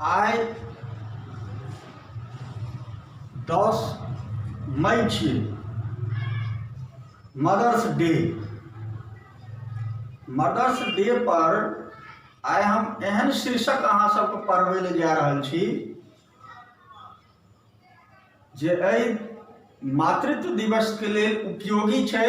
आइ दस मई छी मदर्स डे मदर्स डे पर आइ हम एहन शीर्षक अहाँ सबके पढ़बै लए जा रहल छी जे एहि मातृत्व दिवसके लेल उपयोगी छै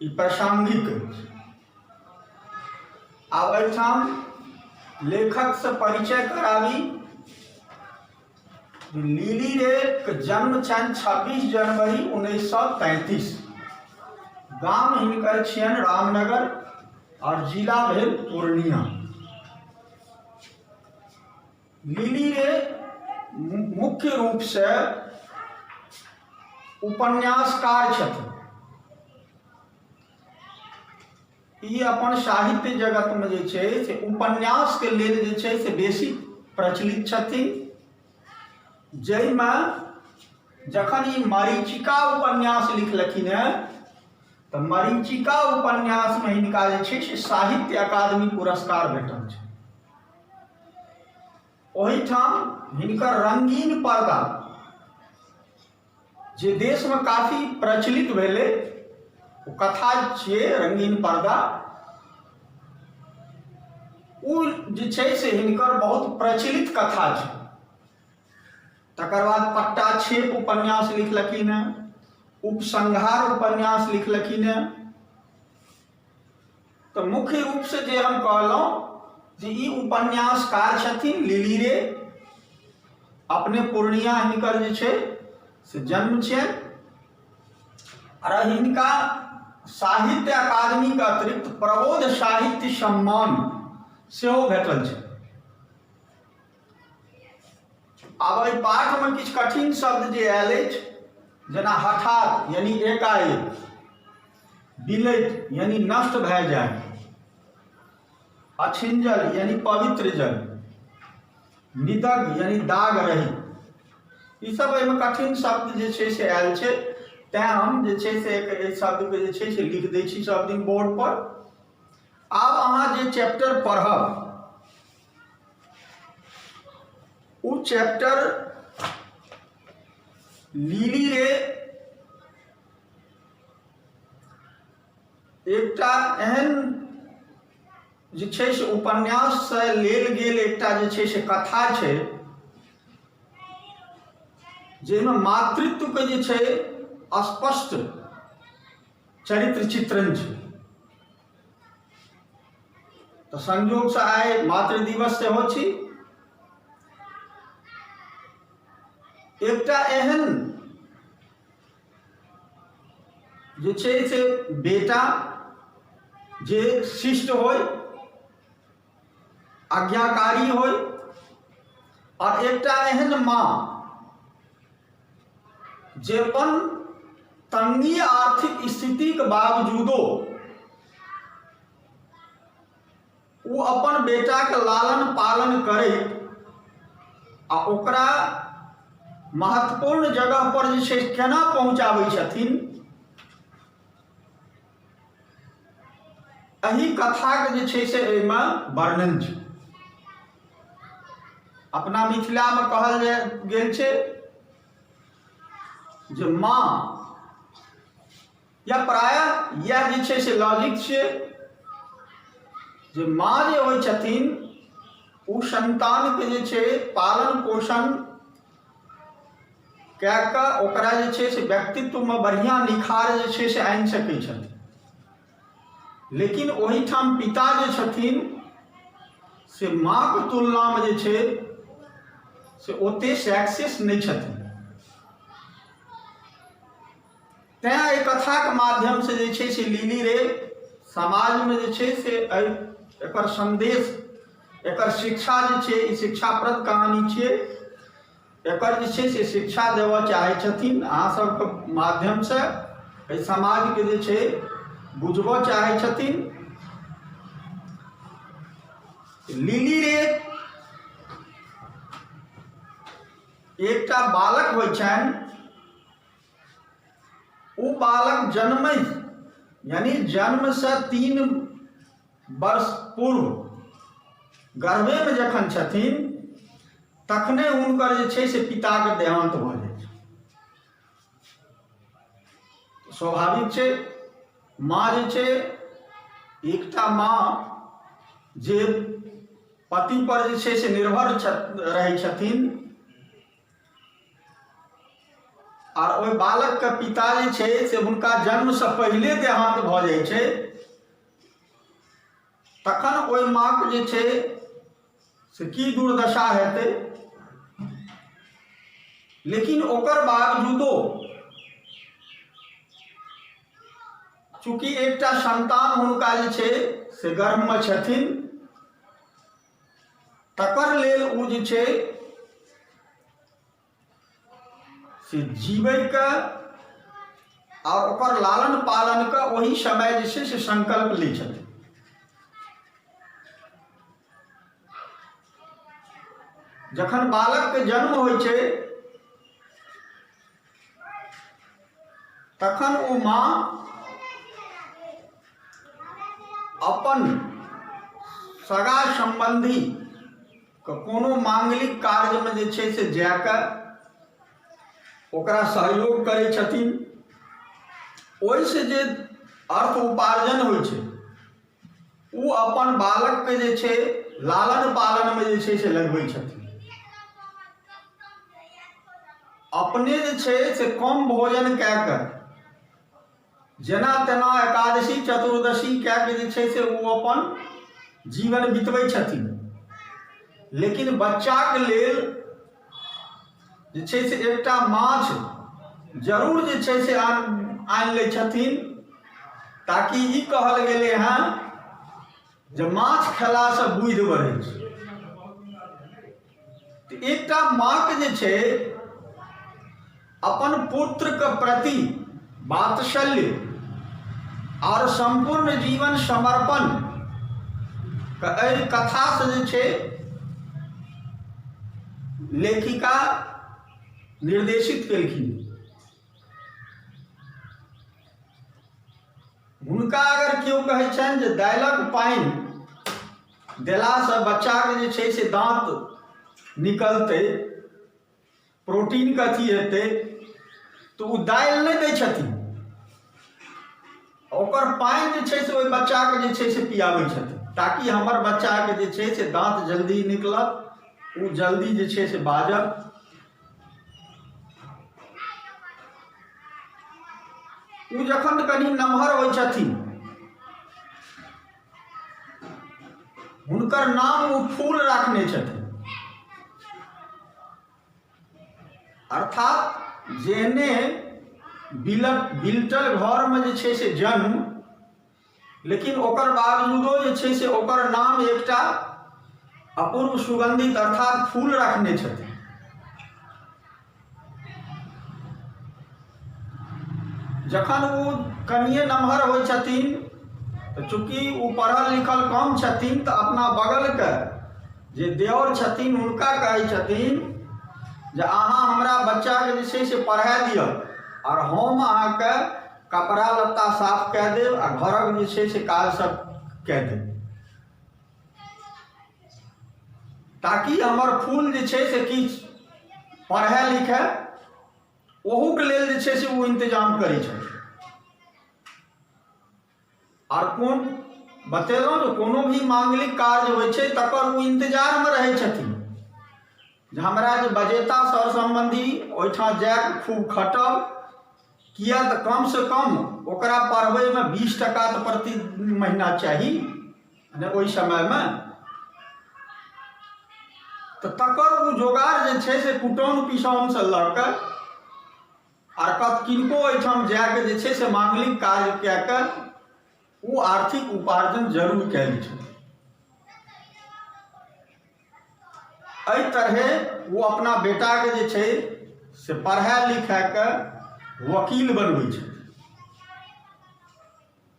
ई प्रासंगिक अछि आब एहिठाम लेखक से परिचय कराबी लीली रे के जन्म छनि छब्बीस जनवरी उन्नैस सए तैंतीस गाम हिनकर छियनि रामनगर और जिला भेल पूर्णिया लिली रे मुख्य रूपसँ उपन्यासकार छथिन ई अपन साहित्य जगतमे जे छै से उपन्यासके लेल जे छै से बेसी प्रचलित छथिन जाहिमे जखन ई मरीचिका उपन्यास लिखलखिन हेँ तऽ मरीचिका उपन्यासमे हिनका जे छै से साहित्य अकादमी पुरस्कार भेटल छै ओहिठाम हिनकर रंगीन पर्दा जे देशमे काफी प्रचलित भेलै ओ कथा छियै रंगीन पर्दा ओ जे छै से हिनकर बहुत प्रचलित कथा छै तकर बाद पट्टा छेप उपन्यास लिखलखिन हेँ उपसंहार उपन्यास लिखलखिन हेँ तऽ मुख्य रूपसँ जे हम कहलहुँ जे ई उपन्यासकार छथिन लिली रे अपने पूर्णिया हिनकर जे छै से जन्म छै आओर हिनका साहित्य अकादमीके अतिरिक्त प्रबोध साहित्य सम्मान सेहो भेटल छै आब एहि पाठमे किछु कठिन शब्द जे आयल अछि जेना हठात यानी एकाएक बिलैत यानी नष्ट भए जाय अछिंजल यानी पवित्र जल निदग यानी दाग रही ई सब एहिमे कठिन शब्द जे छै से आयल छै तैं हम जे छै से एहि शब्दके जे छै से लिख दै छी सब दिन बोर्ड पर आब अहाँ जे चैप्टर पढ़ब उ चैप्टर लीली रे एकटा एहन जे छै से उपन्याससँ लेल गेल एकटा जे छै से कथा छै जाहिमे मातृत्वके जे छै स्पष्ट चरित्र चित्रण छै तऽ संयोगसँ आइ मातृ दिवस सेहो छी एकटा एहन जे छै से बेटा जे शिष्ट होय आज्ञाकारी होइ और एकटा एहन माँ जे अपन तंगी आर्थिक स्थिति के बावजूदो ओ अपन बेटा के लालन पालन करे आ ओकरा महत्वपूर्ण जगह पर जे केना पहुँचाबै छथिन एहि कथाके जे छै से एहिमे वर्णन छै अपना मिथिलामे कहल जा गेल छै जे माँ या प्राय इएह जे छै से लॉजिक छियै जे माँ जे होइ छथिन ओ संतानके जे छै पालन पोषण कए कऽ ओकरा जे छै से व्यक्तित्वमे बढ़िआँ निखार जे छै से आनि सकै छथिन लेकिन ओहिठाम पिता जे छथिन से माँके तुलनामे जे छै से ओतेक सक्सेस नहि छथिन तैँ एहि कथाके माध्यमसँ जे छै से लिली रे समाजमे जे छै से एहि एकर सन्देश एकर शिक्षा जे छै ई शिक्षाप्रद कहानी छियै एकर जे छै से शिक्षा देबऽ चाहै छथिन अहाँ सबके माध्यमसँ एहि समाजके जे छै बुझबऽ चाहै छथिन लिली रे एकटा बालक होइ छनि ओ बालक जन्म यानी जन्म से तीन वर्ष पूर्व गर्भे में जखन छथिन तखने हुनकर जे छै से पिताके देहान्त भऽ जाइ छै स्वाभाविक छै माँ जे छै एकटा माँ जे पति पर जे छै से निर्भर रहै छथिन आ ओहि बालकके पिता जे छै से हुनका जन्मसँ पहिले देहांत भऽ जाइ छै तखन ओहि माँके जे छै से की दुर्दशा हेतै लेकिन ओकर बावजूदो चूँकि एकटा संतान हुनका जे छै से गर्भमे छथिन तकर लेल ओ जे छै से जीवैके आओर ओकर लालन पालनके ओहि समय जे छै से संकल्प लै छथिन जखन बालकके जन्म होइ छै तखन ओ माँ अपन सगा सम्बन्धी कोनो मांगलिक कार्यमे जे छै से जाके ओकरा सहयोग करै छथिन ओहिसँ जे अर्थ उपार्जन होइ छै ओ अपन बालकके जे छै लालन पालनमे जे छै से लगबै छथिन अपने जे छै से कम भोजन कए कऽ जेना तेना एकादशी चतुर्दशी कए कऽ जे छै से ओ अपन जीवन बितबै छथिन लेकिन बच्चाके लेल जे छै से एकटा माछ जरूर जे छै से आनि लै छथिन ताकि ई कहल गेलै हँ जे माछ खेलासँ बुद्धि बढ़ै छै एकटा माँके जे छै अपन पुत्रक प्रति वात्सल्य आओर सम्पूर्ण जीवन समर्पण एहि कथासँ जे छै लेखिका निर्देशित केलखिन हुनका अगर केओ कहै छनि जे दालिक पानि देलासँ बच्चाके जे छै से दाँत निकलतै प्रोटीनके अथी हेतै तऽ ओ दालि नहि दै छथिन ओकर पानि जे छै से ओहि बच्चाके जे छै से पियाबै छथिन ताकि हमर बच्चाके जे छै से दाँत जल्दी निकलत ओ जल्दी जे छै से बाजत ओ जखन कनि नमहर होइ छथिन हुनकर नाम ओ फूल राखने छथिन अर्थात जेहने बिल बिल्टल घरमे जे छै से जन्म लेकिन ओकर बावजूदो जे छै से ओकर नाम एकटा अपूर्व सुगंधित अर्थात फूल रखने छथिन जखन ओ कनिए नमहर होइ छथिन तऽ चूँकि ओ पढ़ल लिखल कम छथिन तऽ अपना बगलके जे देवर छथिन हुनका कहै छथिन जे अहाँ हमरा बच्चाके जे छै से पढ़ा दिअ आओर हम अहाँके कपड़ा लत्ता साफ कए देब आ घरक जे छै से काज सभ कए देब ताकि हमर फूल जे छै से किछु पढ़य लिखय ओहूके लेल जे छै से ओ इन्तजाम करै छथि आर कोन बतेलहुँ जे कोनो भी माङ्गलिक काज होइ छै तकर ओ इन्तजारमे रहै छथिन जे हमरा जे बजेता सर सम्बन्धी ओहिठाम जायब खूब खटब किया तऽ कम से कम ओकरा पढ़बैमे बीस टका तऽ प्रति महीना चाही ने ओहि समयमे तऽ तकर ओ जोगाड़ जे छै से कुटौन पिसौनसँ लऽ कऽ आर कत किनको ओहिठाम जाके जे छै से मांगलिक काज कए कऽ ओ आर्थिक उपार्जन जरूर कयल छै एहि तरहे ओ अपना बेटाके जे छै से पढ़ा लिखाके वकील बनबै छै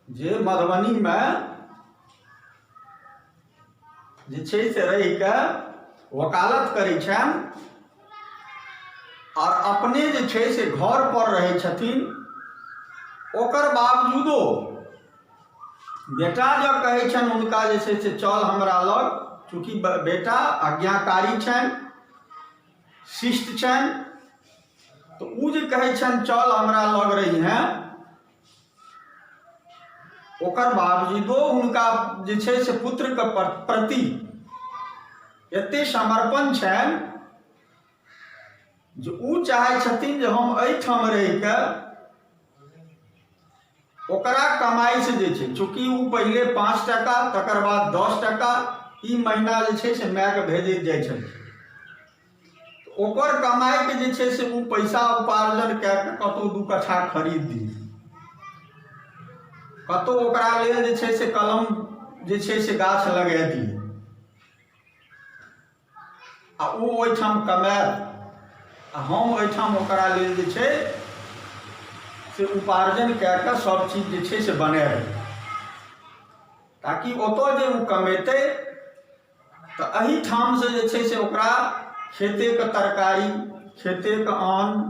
जे मधुबनीमे जे छै से रहि कऽ वकालत करै छनि आओर अपने जे छै से घर पर रहै छथिन ओकर बावजूदो बेटा जँ कहै छनि हुनका जे छै से चल हमरा लग चूँकि ब- बेटा आज्ञाकारी छनि शिष्ट छनि तऽ ओ जे कहै छनि चल हमरा लग रही हैं ओकर बावजूदो हुनका जे छै से पुत्रके प्र- प्रति एते समर्पण छनि जे ओ चाहै छथिन जे हम एहिठाम रहि कऽ ओकरा कमाई से जे छै चूँकि ओ पहिले पाँच टाका तकर बाद दस टाका ई महीना जे छै से मायके भेजैत जाइ छलखिन ओकर कमाइके जे छै से ओ पैसा उपार्जन कए कऽ कतहु दू कट्ठा खरीद दी कतहु ओकरा लेल जे छै से कलम जे छै से गाछ लगा दी आ ओ ओहिठाम कमायल आ हम ओहिठाम ओकरा लेल जे छै से उपार्जन कए कऽ सभ चीज जे छै से बनायल ताकि ओतय जे ओ कमेतै तऽ एहिठामसँ जे छै से ओकरा खेतेके तरकारी खेतेके अन्न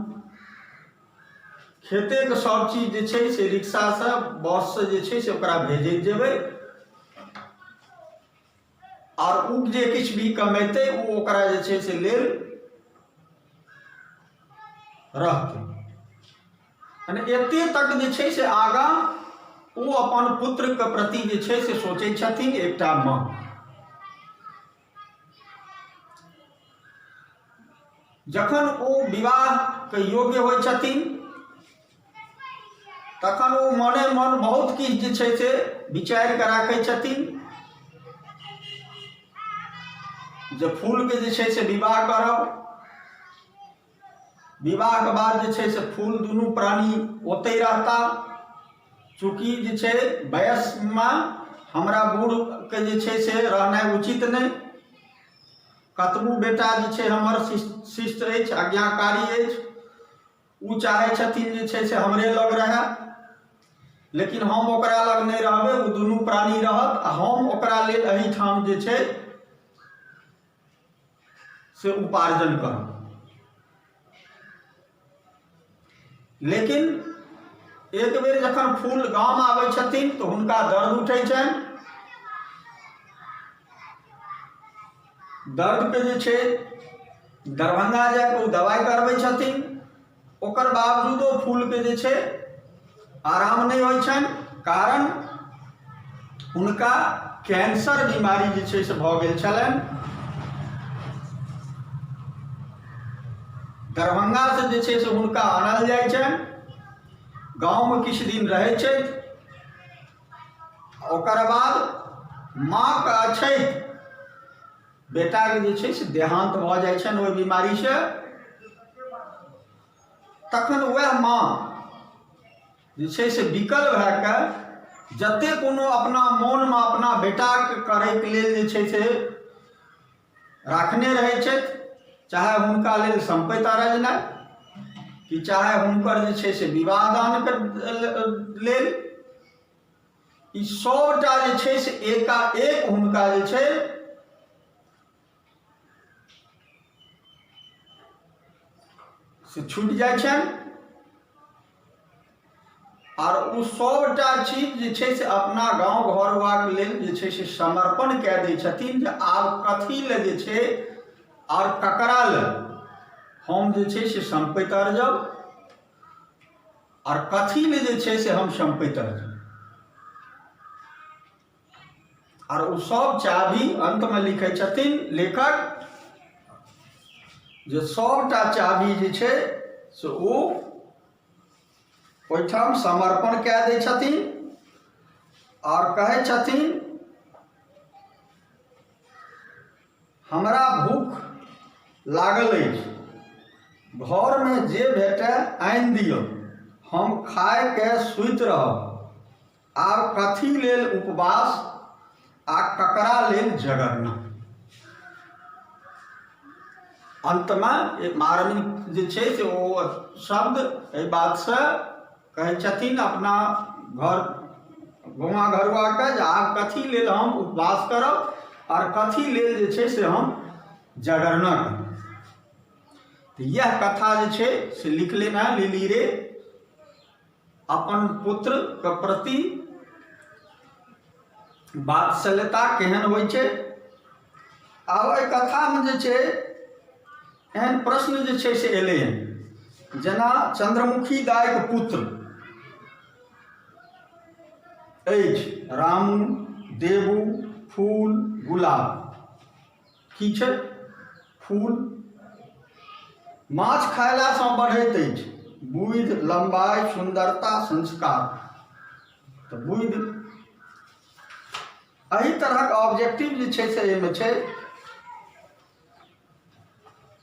खेतेके सभ चीज जे छै से रिक्शासँ बससँ जे छै से ओकरा भेजैत जेबै आओर ओ जे किछु भी कमेतै ओ ओकरा जे छै से लेल रहतै यानी एते तक जे छै से आगाँ ओ अपन पुत्रके प्रति जे छै से सोचै छथिन एकटा माँ जखन ओ विवाहके योग्य होइ छथिन तखन ओ मने मन बहुत किछु जे छै से विचारि कऽ राखै छथिन जे फूलके जे छै से विवाह करब विवाहके बाद जे छै से फूल दुनू प्राणी ओतहि रहता चूँकि जे छै वयस्कमे हमरा बूढ़के जे छै से रहनाइ उचित नहि कतबो बेटा जे छै हमर शिष्ट अछि आज्ञाकारी अछि ओ चाहै छथिन जे छै से हमरे लग रहए लेकिन हम ओकरा लग नहि रहबै ओ दुनू प्राणी रहत आ हम ओकरा लेल एहिठाम जे छै से उपार्जन करब लेकिन एक बेर जखन फूल गाम आबै छथिन तऽ हुनका दर्द उठै छनि दर्दके जे छै दरभंगा जा कऽ ओ दबाइ करबै छथिन ओकर बावजूदो फूलके जे छै आराम नहि होइ छनि कारण हुनका कैंसर बीमारी जे छै से भऽ गेल छलनि दरभंगा से जे छै से हुनका आनल जाइ छनि गाँवमे किछु दिन रहै छथि ओकर बाद माँके अछैत बेटाके जे छै से देहान्त भऽ जाइ छनि ओहि बीमारीसँ तखन वएह माँ जे छै से विकल भए कऽ जतेक कोनो अपना मोनमे अपना बेटाके करैके लेल जे छै से राखने रहै छथि चाहे हुनका लेल सम्पति अरजनाइ कि चाहे हुनकर जे छै से विवाह दानके लेल ई सभटा जे छै से एकाएक हुनका जे छै से छूटि जाइ छनि आर ओ सभटा चीज जे छै से अपना गाँव घरवाक लेल जे छै से समर्पण कए दै छथिन जे आब कथी लए जे छै आर ककरा लए हम जे छै से सम्पैत आर जाउ आर कथी लए जे छै से हम सम्पैत आर जाउ आर ओ सब चाभी अन्तमे लिखै छथिन लेखक जे सबटा चाभी जे छै से ओ ओहिठाम समर्पण कए दै छथिन आओर कहै छथिन हमरा भूख लागल अछि घरमे जे भेटय आनि दिअ हम खायके सुति रहब आर कथी लेल उपवास आ ककरा लेल जगरना अन्तमे एक मारणी जे छै से ओ शब्द एहि बातसँ कहै छथिन अपना घर गौवा घरुआके जे आब कथी लेल हम उपवास करब आर कथी लेल जे छै से हम जगरना करब तऽ इएह कथा जे छै से लिखले हैं लिली रे अपन पुत्र के प्रति वात्सल्यता केहन होइ छै आब एहि कथामे जे छै एहन प्रश्न जे छै से एलै हन जेना चंद्रमुखी दाइके पुत्र अछि रामू देवू फूल गुलाब की छै फूल माछ खयलासँ बढ़ैत अछि बुद्धि लम्बाइ सुन्दरता संस्कार तऽ बुद्धि एहि तरहक ऑब्जेक्टिव जे छै से एहिमे छै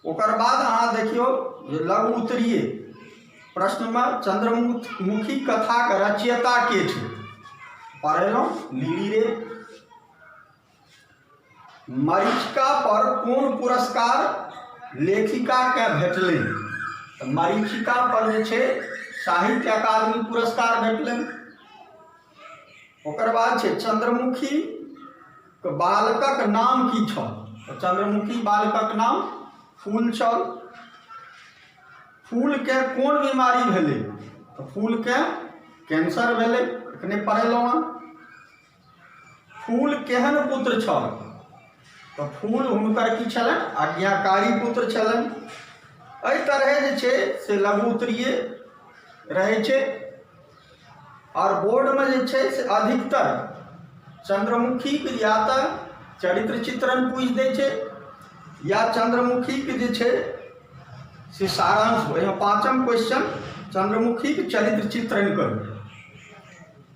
ओकर बाद अहाँ देखियौ जे लघु उत्तरीय प्रश्नमे चंद्रमुखी कथाक रचयिता के छै पढ़ेलहुँ लीली रे मरीचिका पर कोन पुरस्कार लेखिका के भेटलनि तऽ मरीचिका पर जे छै साहित्य अकादमी पुरस्कार भेटलनि ओकर बाद छै चंद्रमुखी के बालकक नाम की छल तऽ चंद्रमुखी बालकक नाम फूल छल फूल के कोन बीमारी भेलै तऽ फूल के कैंसर भेलै एखने पढ़ेलहुँ हँ फूल केहन पुत्र छल तऽ फूल हुनकर की छलनि आज्ञाकारी पुत्र छलनि एहि तरहे जे छै से लघु उत्तरीय रहै छै आओर बोर्डमे जे छै से अधिकतर चंद्रमुखीके या तऽ चरित्र चित्रण पूछि दै छै या चंद्रमुखीके जे छै से सारांश एहिमे पाँचम क्वेश्चन चंद्रमुखीके चरित्र चित्रण करू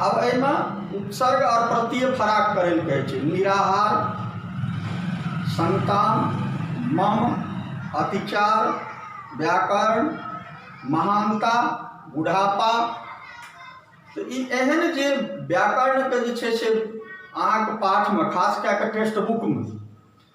आब एहिमे उपसर्ग आओर प्रत्यय फराक करै लए कहै छै निराहार संतान मम अतिचार व्याकरण महानता बुढ़ापा तऽ ई एहन जे व्याकरणके जे छै से अहाँके पाठमे खास कए कऽ टेक्स्ट बुकमे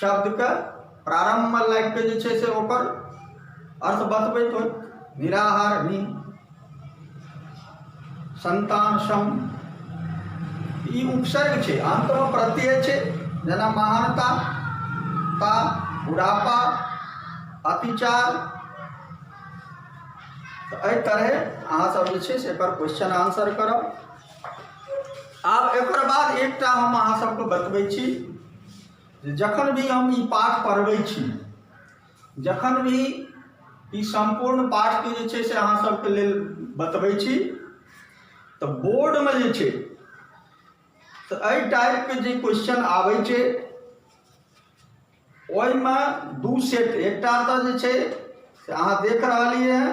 शब्दके प्रारम्भमे लागि कऽ जे छै से ओकर अर्थ बतबैत होइ निराहार नि संतान सम ई उपसर्ग छै अन्तमे प्रत्यय छै जेना महानता ता बुढ़ापा अतिचार तऽ एहि तरहे अहाँसभ जे छै से एकर क्वेश्चन आंसर करब आब एकर बाद एकटा हम अहाँसभके बतबै छी जे जखन भी हम ई पाठ पढ़बै छी जखन भी ई सम्पूर्ण पाठके जे छै से अहाँ सबके लेल बतबै छी तऽ बोर्डमे जे छै तऽ एहि टाइपके जे क्वेश्चन आबै छै ओहिमे दू सेट एकटा तऽ जे छै से अहाँ देख रहलियै हँ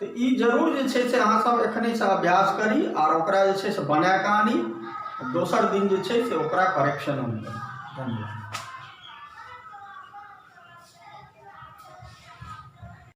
तऽ ई जरूर जे छै से अहाँ सब एखने से अभ्यास करी आर ओकरा जे छै से बना कऽ आनी दोसर दिन जे छै से ओकरा करेक्शन हम करी धन्यवाद